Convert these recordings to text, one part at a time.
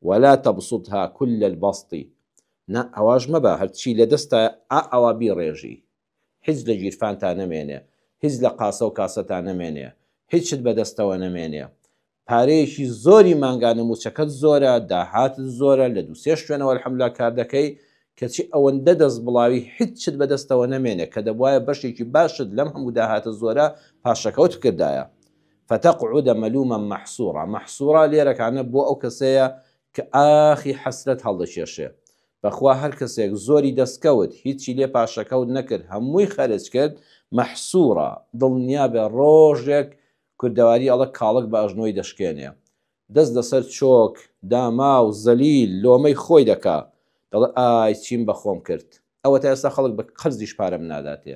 ولا تبسطها کل البسط نا ئاواش مەبە هەرچی لەدەستا ئا ئاوا بیڕێژی هیچ لە گیرفانتا نەمێنێ هیچ لە قاسەو کاسەتا نەمێنێ هیچت بەدەستەوە نەمێنێ پارەیەکی زۆری مانگانە موچەکەت زۆرە داهاتت زۆرە لە دوو سێ شوێنەوە الحمدللە کار دەکەی کەچی ئەوەندە دەست بڵاوی هیچت بەدەستەوە نەمێنێ کە دەبوایە بەشێکی باشت لەم هەموو داهاتە زۆرە پاشەکەوت بکردایە فتقعد ملوما محصورا محصورا لێرەکانە بۆ ئەو کەسەیە کە ئاخی حەسرەت هەڵدەکێشێ بەخوا هەر کەسێک زۆری دەستکەوت هیچی لێ پاشەکەوت نەکرد هەمووی خەرج کرد محصورا دڵنیابە ڕۆژێک کوردەواری ئەڵە کاڵک بە ئەژنۆی دەشکێنێ دەست لەسەر چۆک داما و زەلیل لۆمەی خۆی دەکا، دەڵێ ئای چیم بە خۆم کرد، ئەوەتا ئێستا خەڵک بە قەرزیش پارەم ناداتێ.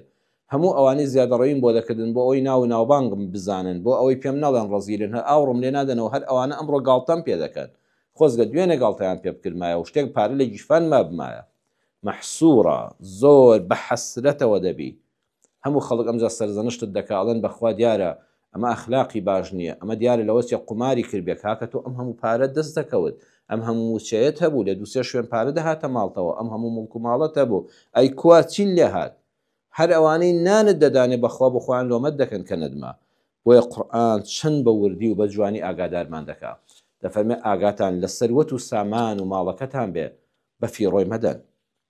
هەموو ئەوانەی زیادەڕەویم بۆ دەکردن بۆ ئەوەی ناو و ناوبانگم بزانن، بۆ ئەوەی پێم نەڵێن ڕەزیلن، هەر ئاوڕم لێ نادەنەوە، هەر ئەوانە ئەمڕۆ گاڵتەم پێ دەکەن. خۆزگە دوێنێ گاڵتەیان پێ بکردمایە و شتێک پارە لە گیرفان مابمایە. مەحسوورە، زۆر بە حەسرەتەوە دەبی. هەموو خەڵک ئەمجا سەرزەنشتت دەکا ئەڵێن بەخوا دیارە ئەمە ئەخلاقی باش نیە ئەمە دیارە لەوە چێ قوماری کردبێ کاکە تۆ ئەم هەموو پارەت دەست دەکەوت ئەم هەموو موچەیەت هەبوو لە دوو سێ شوێن پارە دەهاتە ماڵتەوە ئەم هەموو موڵک و ماڵەت هەبوو ئەی کوا چیت لێ هات هەر ئەوانەی نانت دەدانێ بەخوا بۆ خۆیان لۆمەت دەکەن کە نەدما بۆیە قورئان چەند بە وردی و بە جوانی ئاگادارمان دەکا دەفەرمێ ئاگاتان لە سەروەت و سامان و ماڵەکەتان بێ بە فیڕۆی مەدەن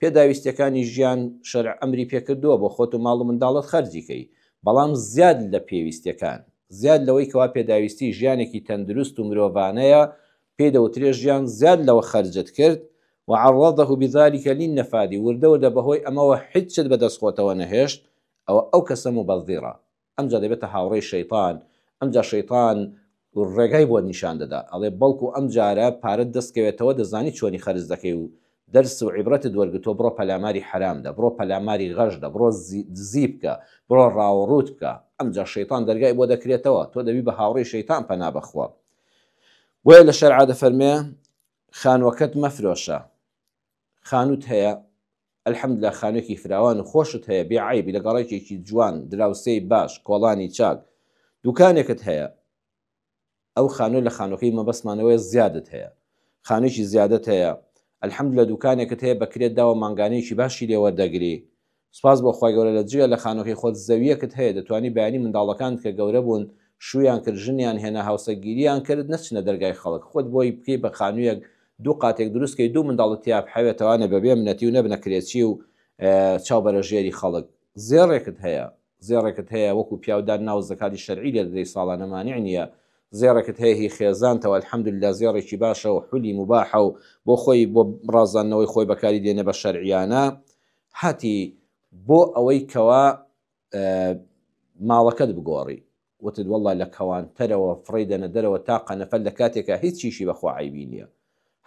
پێداویستیەکانی ژیان شەرع ئەمری پێکردووە بۆ خۆت و ماڵ و منداڵت خەرجی کەی بەڵام زیاد لە پێویستیەکان زیاد لەوەی کەوا پێداویستی ژیانێکی تەندروست و مرۆڤانەیە پێی دەوترێ ژیان زیاد لەوە خەرجت کرد وعرضه بذلک للنفاد وردە وردە بەهۆی ئەمەوە هیچت بەدەست خۆتەوە نەهێشت ئەوە ئەو کەسە موبەذیڕە ئەمجا دەبێتە هاوڕێی شەیتان، ئەمجا شەیتان ڕێگای بۆت نیشان دەدا، ئەڵێ بەڵکو ئەمجارە پارەت دەست کەوێتەوە دەزانی چۆنی خەرج دەکەی و دەرس و عیبرەتت وەرگرتووە بڕۆ پەلاماری حەرام دە، بڕۆ پەلاماری غەش دە، بڕۆ دزی بکە، بڕۆ ڕاوڕووت بکە، ئەمجا شەیتان دەرگای بۆ دەکرێتەوە، تۆ دەبی بە هاوڕێی شەیتان پەنا بە خوا. بۆیە لە شەرعا دەفەرمێ خانووەکەت مەفرۆشە، خانوت هەیە الحمدللە خانوێکی فراوان و خۆشت هەیە بێ عیبی لە گەڕێکێکی جوان دراوسێی باش کۆڵانی چاک دوکانێکت هەیە ئەو خانوێ لە خانوەکەی مەبەستمانەوەی زیادت هەیە خانوێکی زیادت هەیە الحمدللە دوکانێکت هەیە بە کرێت داوە مانگانەیەکی باشی لێوەردەگری سوپاس بۆ خوای گەورە لە جگە لە خانوەکەی خۆت زەویەکت هەیە دەتوانی بەیانی منداڵەکانت کە گەورە بوون شوویان کرد ژنیان هێنا هاوسەگیریان کرد نەچنە دەرگای خەڵک خۆت بۆی بکەی بە خانویەک دوو قاتێک دروست کەی دوو منداڵت تیا بحەوێتەوانە بەبێ منەتی و نەبنە کرێچی و چاو بەرە ژێری خەڵک زێڕێکت هەیە زێڕێکت هەیە وەکو پیاو دان ناو زەکاتی شەرعی لێ دەدەی ساڵانە مانع نییە زێڕێکت هەیە هی خێزانتەوە الحمدللە زێڕێکی باشە و حولی مباحە و بۆ خۆی بۆ ڕازاندنەوەی خۆی بەکاری دێنە بە شەرعیانە هاتی بۆ ئەوەی کەوا ماڵەکەت بگۆڕی وتت واللە لە کەوانتەرەوە فڕێی دەنە دەرەوە تا قەنەفەر لە کاتێکا هیچ چیشی بە خوا عەیبی نیە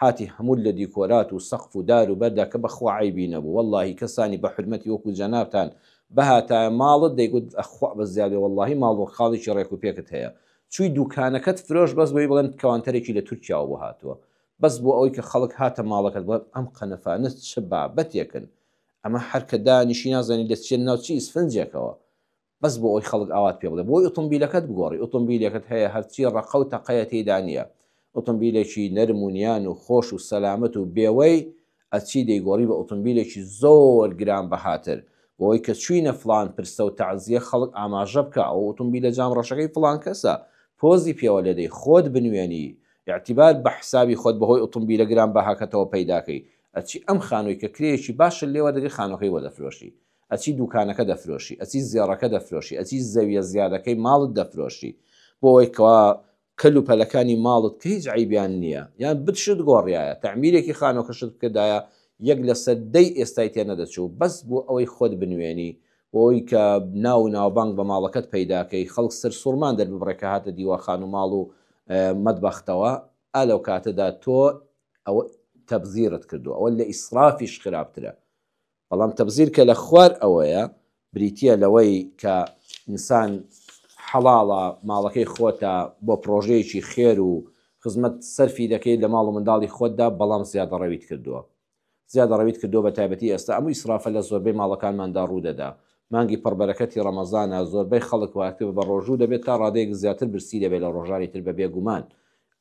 هاتی هەمووت لە دیکۆرات و سەقف و دار و بەردا کە بە خوا عەیبی نەبوو واللەهی کەسانی بە حورمەتی وەکو جەنابتان بهاتایە ماڵت دەیگوت خوا بە زیادەی واللەهی ماڵ و خاڵێکی ڕێک و پێکت هەیە چووی دووکانەکەت فرۆشت بەس بۆی بڵێن کەوانتەرێکی لە تورکیاوە بۆ هاتووە بەس بۆ ئەوەی کە خەڵک هاتە ماڵەکەت بڵێم ئەم قەنەفانە چ بابەتێکن ئەمە هەر کە دانیشی نازانی دەچیە ناو چی ئیسفنجێکەوە بەس بۆ ئەوی خەڵک ئاوات پێ بڵێ بۆی ئۆتۆمبیلەکەت بگۆڕی ئۆتۆمبیلەکەت هەیە هەرچی ڕەقە و تەقەیە تێدا نییە ئۆتۆمبیلێکی نەرم و نیان و خۆش و سەلامەت و بێوەی ئەچی دەیگۆڕی بە ئۆتۆمبیلێکی زۆر گران بەهاتر بۆوەی کە چوینە فڵان پرسە و تەعزیە خەڵک ئاماژە بکا ئەو ئۆتۆمبیلە جام ڕەشەکەی فڵان کەسە پۆزی پێوە لێدەی خۆت بنوێنی ئیعتیبار بە حسابی خۆت بەهۆی ئۆتۆمبیلە گران بەهاکەتەوە پەیداکەی ئەچی ئەم خانوی کە کرێیەکی باشت لێ وەردەگری خانوەکەی بۆ دەفرۆشی ئەچی دوکانەکە دەفرۆشی ئەچی زێڕەکە دەفرۆشی ئەچی زەویە زیادەکەی ماڵت دەفرۆشی بۆوەی کەوا کەل و پەلەکانی ماڵت کە هیچ عەیبیان نییە یان بت شت گۆڕیایە تەعمیرێکی خانوەکەشت بکردایە یەک لەسەر دەی ئێستای تێ نەدەچوو بەس بۆ ئەوەی خۆت بنوێنی بۆ ئەوەی کە ناو و ناوبانگ بە ماڵەکەت پەیدا کەی خەڵک سەرسوڕمان دەرببڕێ کە هاتە دیوەخان و ماڵ و مەتبەختەوە ئا لەو کاتەدا تۆ ئەوە تەبزیرت کردووە ئەوە لە ئیسرافیش خراپترە بەڵام تەبزیر کە لە خوار ئەوەیە بریتییە لەوەی کە ئینسان حەڵاڵە ماڵەکەی خۆتە بۆ پرۆژەیەکی خێر و خزمەت سەرفی دەکەیت لە ماڵ و منداڵی خۆتدا بەڵام زیادەڕەویت کردووە زیادەڕەویت کردووە بە تایبەتی ئێستا ئەم ئیسرافە لە زۆربەی ماڵەکانماندا ڕوودەدا مانگی پڕبەرەکەتی ڕەمەزانە زۆربەی خەڵک واتر بە ڕۆژوو دەبێت تا ڕادەیەک زیاتر برسی دەبێت لە ڕۆژانی تر بە بێگومان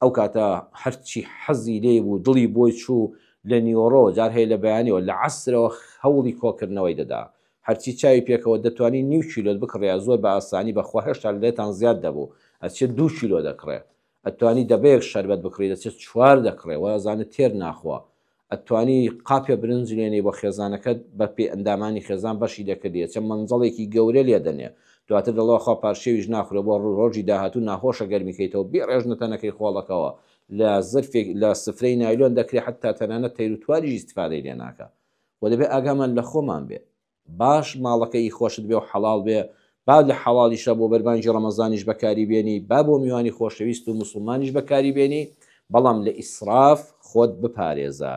ئەو کاتە هەرچی حەزی لێی بوو دڵی بۆی چوو لە نیوەڕۆ جار هەیە لە بەیانیەوە لە عەسرەوە هەوڵی کۆکردنەوەی دەدا هەرچی چاوی پێکەوە دەتوانی نیو کیلۆت بکڕیا زۆر بە ئاسانی بەخوا هێشتا لێتان زیاد دەبوو ئەچێت دوو کیلۆ دەکڕێ ئەتوانی دەبەیەک شەربەت بکڕی دەچێت چوار دەکڕێ وازانە تێر ناخوا ئەتوانی قاپێ برنج لێنێی بۆ خێزانەکەت بە پێی ئەندامانی خێزان بەشی دەکردی ئەچێ مەنجەڵێکی گەورە لێ دەنێ دواتر دەڵێ وەخوا پار شێویش ناخورێ بۆ ڕوو ڕۆژی داهاتوو ناخۆشە گەرمی کەیتەوە بیڕێژنە تەنەکەی خۆڵەکەوە لە زرفێک لە سفرەی نایلۆن دەکرێ حەتتا تەنانەت تەیروتوانیش ئیستفادەی لێ ناکا وە دەبێ ئاگامان لە خۆمان بێ باش ماڵەکە ی خۆشت بێ و حەڵاڵ بێ با لە حەڵاڵیشە بۆ بەربانگی ڕەمەزانیش بەکاری بێنی با بۆ میوانی خۆشەویست و موسڵمانیش بەکاری بێنی بەڵام لە ئیسراف خۆت بپارێزە.